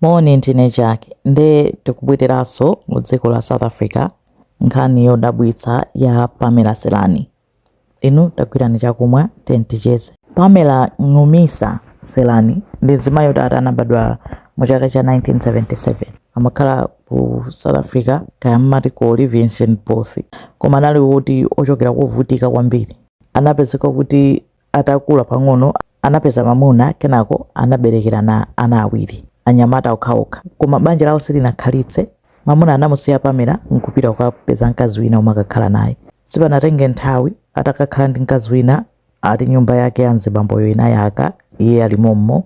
Moni ndine Jack nde tikubwereraso mu dziko la South Africa nkhani yodabwitsa ya Pamela Selani inu tagwirani chakumwa then ticheze. Pamela Ncumisa Selani ndi mzimayi oti ati anabadwa mu chaka cha 1977 amakhala ku South Africa kaya amati ku Olifantsfontein koma anali oti ochokera kovutika kwambiri anapezeka kuti Atakula pang'ono, anapeza mwamuna kenako anaberekerana ana awiri, anyamata okhaokha. Koma banja lawo silinakhalitse. Mwamuna anamusiya Pamela n'kupita kukapeza mkazi wina n'kumakakhala naye. Sipanatenge nthawi, atakakhala ndi mkazi wina, ati nyumba yake ya mzibamboyo inayaka iye ali mommo.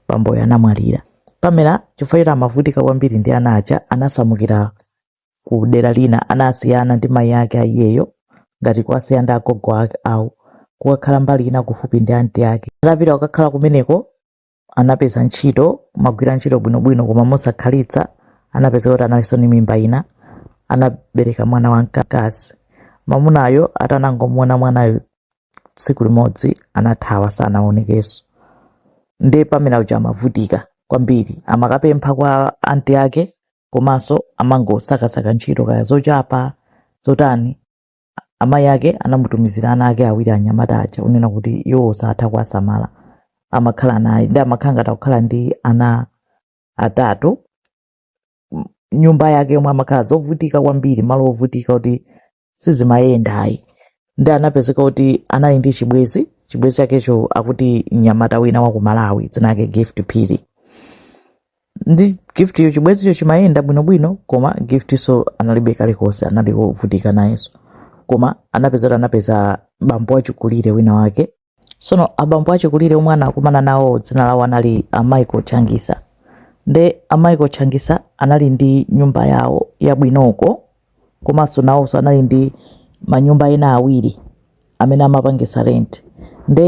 Bamboyo anamwalira. Pamela, chifukwa choti amavutika kwambiri ndi ana aja, anasamukira ku dera lina anasiyana ndi mayi ake anayo ngati kuwasiya ndi agogo awo kukakhala mbali ina kufupi ndi anti ake atapita kukakhala kumeneko anapeza ntchito kumagwira ntchito bwinobwino koma mosakhalitsa anapeza kuti analinso ndi mimba ina anabereka mwana wamkazi mamunayo atanangomuona mwanayo tsiku limodzi anathawa sanaonekenso ndiye Pamela uja amavutika kwambiri amakapempha kwa anti ake komanso amangosakasaka ntchito kaya zochapa zotani amayi ake anamutumizira ana ake awiri anyamata aja unena kuti iwo satha kuwasamala amakhala naye nde amakhala ngati akukhala ndi ana atatu M- nyumba yake yomwe amakhala zovutika kwambiri malo ovutika kuti sizimayenda ayi nde anapezeka kuti anali ndi chibwezi chibwezi chakecho akuti mnyamata wina wa ku malawi dzina lake gift phiri nde giftyo chibwezicho chimayenda bwinobwino koma giftso analibe kalikonse anali wovutika nayenso koma anapeza kuti anapeza bambo wachikulire wina wake Sono abambo achikulire omwe anakumana nawo dzina lawo anali a Michael Changisa. Nde a Michael Changisa anali ndi nyumba yawo yabwinoko komanso nawonso anali ndi manyumba ena awiri amene amapangisa rent. Nde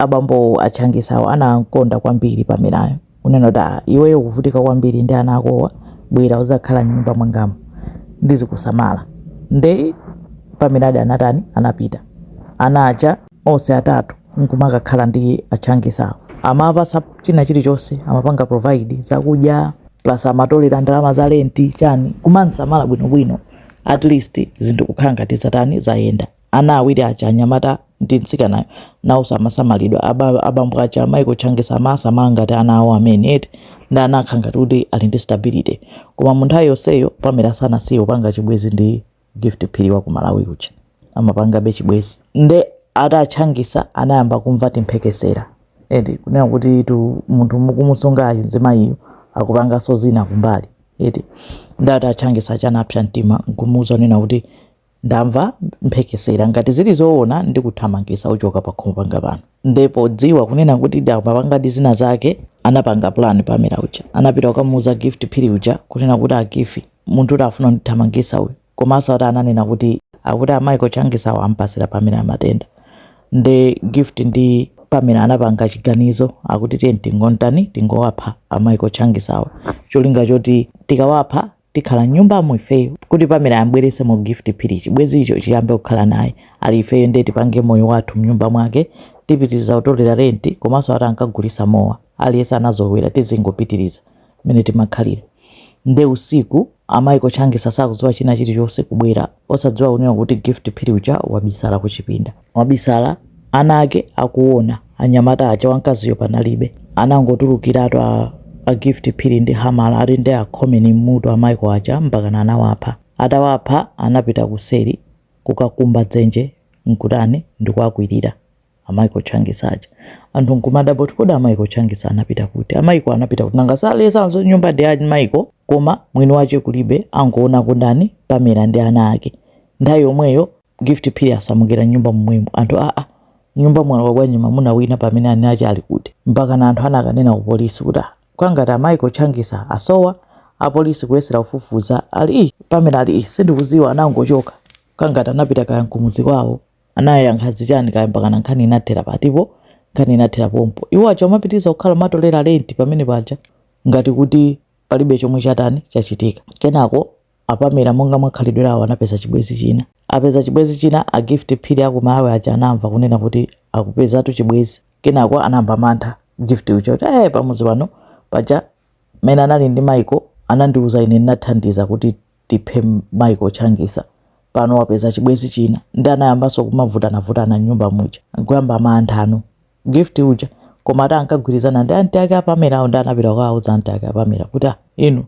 abambowo a Changisawo anamkonda kwambiri Pamelayo. unena kuti ah, iweyo ukuvutika kwambiri ndi ana akowa bwera uzakhala mnyumba mwangamu ndizikusamala nde Pamela-di anatani anapita ana aja onse atatu nkumakakhala ndi a Changisawo amampasa china chilichonse amapanga provide zakudya plus amatolera ndalama za lenti chani kumamsamala bwinobwino at least zinthu kukhala ngati zatani zayenda Ana awiri aja, anyamata ndi mtsikanayo, nawonso amasamalidwa. Aba, abambo aja, Michael Changisa amaasamala ngati ana awo amene, eti, ndi ana akhala ngati kuti ali ndi stability. Koma mu nthawi yonseyo, Pamela sanasiye kupanga chibwenzi ndi Gift Phiri wa ku Malawi uja. Amapangabe chibwenzi. Nde ati a Changisa anayamba kumva timphekesera, eti, kunena kutitu munthu mukumusungayu, mzimayiyu, akupanganso zina kumbali, eti. Nde ati a Changisa aja anapsa mtima n'kumuuza kunena kuti, Ndamva mphekesera ngati zili zoona ndikuthamangisa uchoka pakhomo panga pano. Nde podziwa kunena kuti ndamapangadi zina zake anapanga plan Pamela uja. Anapita kukamuuza Gift Phiri uja kunena kuti a Gifi munthutu afuna kundithamangisa uyu. Komaso ati ananena kuti akuti a Michael Changisawa ampasira Pamela matenda. Nde Gift ndi Pamela anapanga chiganizo akuti tiye tingomtani tingowapha a Michael Changisawa cholinga choti tikawapha tikhala mnyumbamu ifeyo kuti pamela ambweresemo gift phiri chibwezi icho chiyambe kukhala naye ali ifeyo nde tipange moyo wathu mnyumba mwake tipitiriza kutolera renti komanso ati ankagulisa mowa aliyese anazolowera tizingopitiriza mmene timakhalira nde usiku a michael changisa sakuziwa china chilichonse kubwera Osadziwa kunena kuti Gift Phiri uja wabisala kuchipinda. Wabisala ana ake akuona. Anyamata aja wamkaziyo panalibe. Anangotulukiratu a a Gift Phiri ndi hamala ati nde akhomeni m'mutu a Michael aja mpakana anawapha. Atawapha anapita kuseri kukakumba dzenje n'kutani? Ndikuwakwirira. a Michael Changisa aja anthu nkumadabwa kuti kodi a Michael Changisa anapita kuti a Michael anapita kuti nangasi aleza nyumba ndi a Michael koma mwini wache kulibe angoona kundani pamela ndi ana ake nthawi yomweyo gift phiri asamukira nyumba momwemo anthu aa nyumba mwalowa bwanji mamuna wina pamene eni ache ali kuti mpakana anthu anakanena ku polisi kuti "Ah, kwangati a Michael Changisa asowa apolisi kuyesera kufufuza ali "Ih, pamela ali "Ih, sindikuziwa anangochoka kwangati anapita kaya nkumudzi kwawo anayankha zichani kaya mpakana nkhani inathera patipo nkhani inathera pompo iwo aja amapitiriza kukhala kumatolera renti pamene paja ngati kuti palibe chomwe chatani chachitika kenako a pamela monga mwakhalidwe lawo anapeza chibwezi china apeza chibwezi china a gift phiri a ku malawi aja anamva kunena kuti akupezatu chibwezi kenako anayamba mantha gift uja kuti eh pamuzi pano paja mmene anali ndi michael anandiuza ine ndinathandiza kuti tiphe Michael Changisa pano wapeza chibwezi china nde anayambaso kumavutanavutana mnyumba muja nkuyamba mantha a Gift uja koma ati ankagwirizana ndi aunt ake a Pamela nde anapita kukawauza aunt ake a Pamela kuti ah inu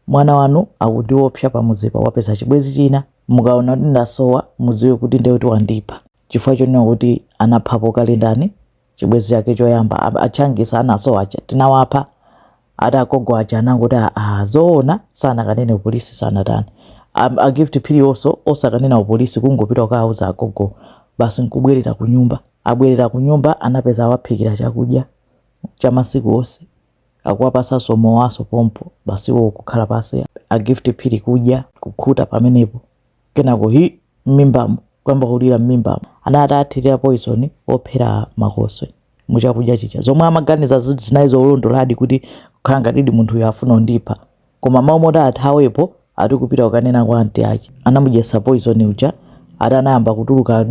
mwana wanu akundiopsa pamuzipa wapeza chibwezi china mukaona kuti ndasowa muziwe kuti nde kuti wandipha chifukwa chonena kuti anaphapo kale ndani chibwezi chake choyamba a- a tchangisa anasowa aja tinawapha ati agogo aja anangoti "Ah, ah, zoona sanakanene upolisi sanatani Am- a gift phiri onso osakanena upolisi kungopita kukawuza agogo basi nkubwerera ku nyumba abwerera ku nyumba anapeza awaphikira chakudya cha masiku onse akuwapasanso mowa waso pompo basi iwo kukhala pasi a gift phiri kudya kukhuta pamenepo kenako hi m'mimbamu kuyamba kulira m'mimbamu ana atathirira poison ophera makoswe muchakudya chija zomwe amaganiza zinthu zinali zolondoladi kuti kukhala ngatidi munthuyo afuna undipha koma mmalo moti athawepo ati kupita kukanena kwa anti ake anamudyesa poison uja ati anayamba kutuluka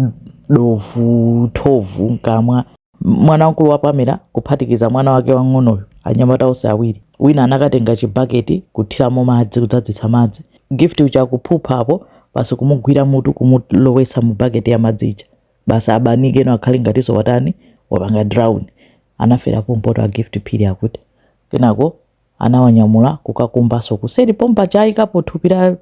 thovu thovu mkamwa Mwana wamkulu wa Pamela, kuphatikiza mwana wake wamng'onoyu, anyamata onse awiri, wina anakatenga chibaketi kuthiramo madzi kudzadzitsa madzi, Gift uja akuphupha apo basi kumugwira mutu kumulowetsa mu baketi ya madzi ija basi abanikeno akhale ngatinso watani wapanga drown. Anafera pompoto a Gift Phiri akuti. Kenako anawanyamula kukakumbanso kuseri pompaja anaikapo thupi la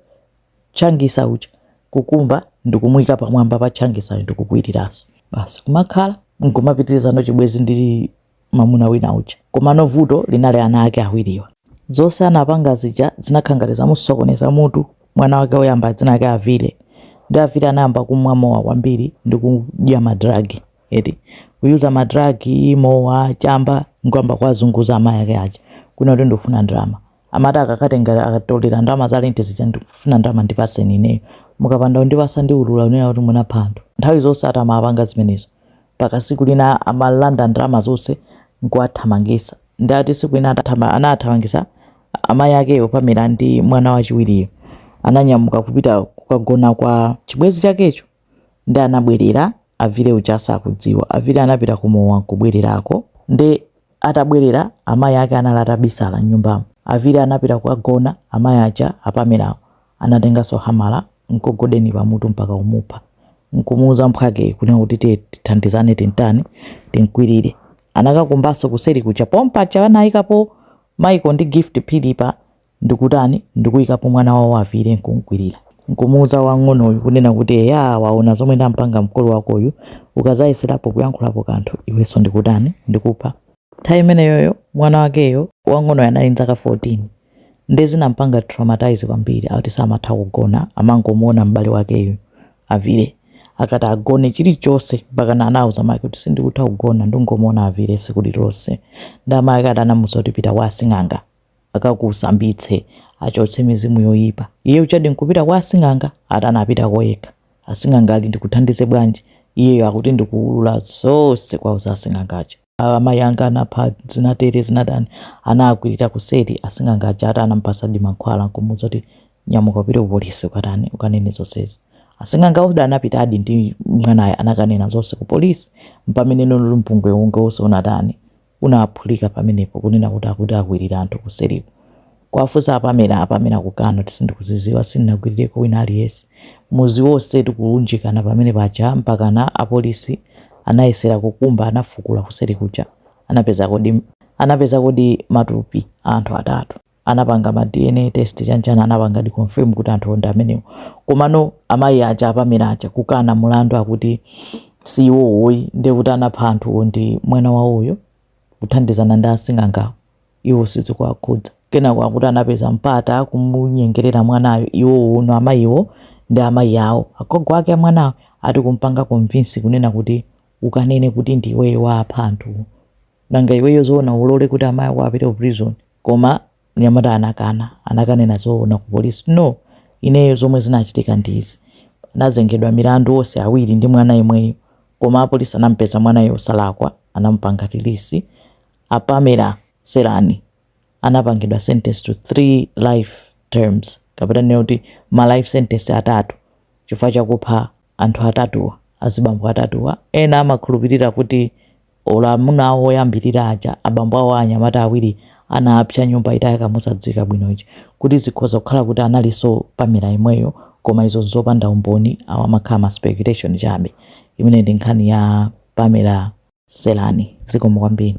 tchangisa uja kukumba ndikumuika pamwamba pa tchangisayo ndikukwiriranso basi kumakhala nkumapitirizano chibwezi ndi mamuna wina uja komano vuto linali ana ake awiriwa zonse anapanga zija zinakhala ngati zamusokoneza mutu mwana wake woyamba dzina lake avile ndi avile anayamba kumwa mowa kwambiri ndi kudya madragi eti kuyuza madragi mowa chamba nkuyamba kuwazunguza amayi ake aja kunena kuti ndikufuna ndalama Amati akakatenga akatolera ndalama za lenti zija ndikufuna ndalama ndipaseni ineyo. Mukapanda kundipasa ndiulura kunena kuti munapha anthu. Nthawi zonse atamapanga zimenezo mpaka siku lina amalanda ndalama zonse nkuwathamangisa. Nde ati siku lina anawathamangisa amayi akewo Pamela ndi mwana wachiwiriyo ananyamuka kupita kukagona kwa chibwezi chakecho. nde anabwerera avile uja asakudziwa avile anapita ku mowa nkubwererako nde atabwerera amayi ake anali atabisala mnyumbamo avile anapita kukagona amayi aja apamelawo anatenganso hamala nkugogoda pamutu mpaka kumupha nkumuuza mphwakeyo kunena kuti tiye tithandizane timtani timkwilire anakakumbanso kuseli kuja pompaja anayikapo maiko ndi gift phiri pa ndikutani, ndikuikapo mwana wawo avile nkumkwirira, nkumuuza wamng'onoyu kunena kuti eyaa waona zomwe ndampanga mkulu wakoyu, ukazayeserapo kuyankhulapo kanthu iwenso ndikutani, ndikupha. Nthawi imeneyoyo mwana wakeyo wamng'onoyo anali ndzaka 14 nde zinampanga traumatise kwambiri akuti samatha kugona amangomuona m'bale wakeyu avile akati agone chilichose mpakana anauza amake kuti sindikutha kugona ndungomuona avile sikulilose nde amake ati anamuuza kuti pita kwa asing'anga akakusambitse, achotse mizimu yoyipa. Iye ujadi nkupita kwa asing'anga, akuti anapitako yekha. Asing'anga ali ndikuthandize bwanji? Iyeyo akuti ndikuwulula zonse kwa asing'angawo. Amayi anga anapha zinatere zinatani, anaakwirira kuseri. Asing'anga aja ati anamupatsadi mankhwala nkumuuza kuti nyamuka upite ku polisi ukatani, ukanene zonsezo. Asing'angawo anapitadi ndi mwanayo anakanena zonse ku polisi. Mpamene no mpungwepungwe wonse unatani, unaphulika pamenepo kunena kuti akuti anakwirira anthu kuseriku kuwafunsa a Pamela a Pamela kukana kuti sindikuziziwa sindinakwirireko wina aliyese muzi wose ndikuunjikana pamene paja mpakana apolisi anayesera kukumba anafukula kuseri kuja anapezakodi anapezakodi matupi aanthu atatu anapanga ma dna test chani chani anapangadi confirm kuti anthuwo ndi amenewo komano amayi aja a Pamela aja kukana mulandu akuti si iwowo ayi ndiye kuti anapha anthuwo ndi mwana wawoyo kuthandizana ndi asing'angawo iwo sizikuwakhudza kenako akuti anapeza mpata kumunyengerera mwanayo iwowono amayiwo ndi amayi awo agogo ake a mwanayo ati kumpanga convince kunena kuti ukanene kuti ndi iweyo wapha anthuwo nanga iweyo zoona ulole kuti amayi ako apite ku prison koma mnyamata anakana, anakanena zoona ku polisi kuti no ineyo zomwe zinachitika ndi izi anazengedwa milandu onse awiri ndi mwana yemweyo koma apolisi anamupeza mwanayo wosalakwa anamupanga release a Pamela Selani anapangidwa sentence to 3 life terms kapena tinene kuti ma life sentence atatu chifukwa chakupha Anthu atatuwa, azibambo atatuwa, ena amakhulupirira kuti olo amuna awo oyambirira aja, abambo awo a anyamata awiri, anapsa nyumba itayaka mosadziwika bwino ija, kuti zikhoza kukhala kuti analinso Pamela yemweyo, koma izo n'zopanda umboni, awa amakhala ma speculation chabe. Imeneyi ndi nkhani ya Pamela Selani. Zikomo kwambiri.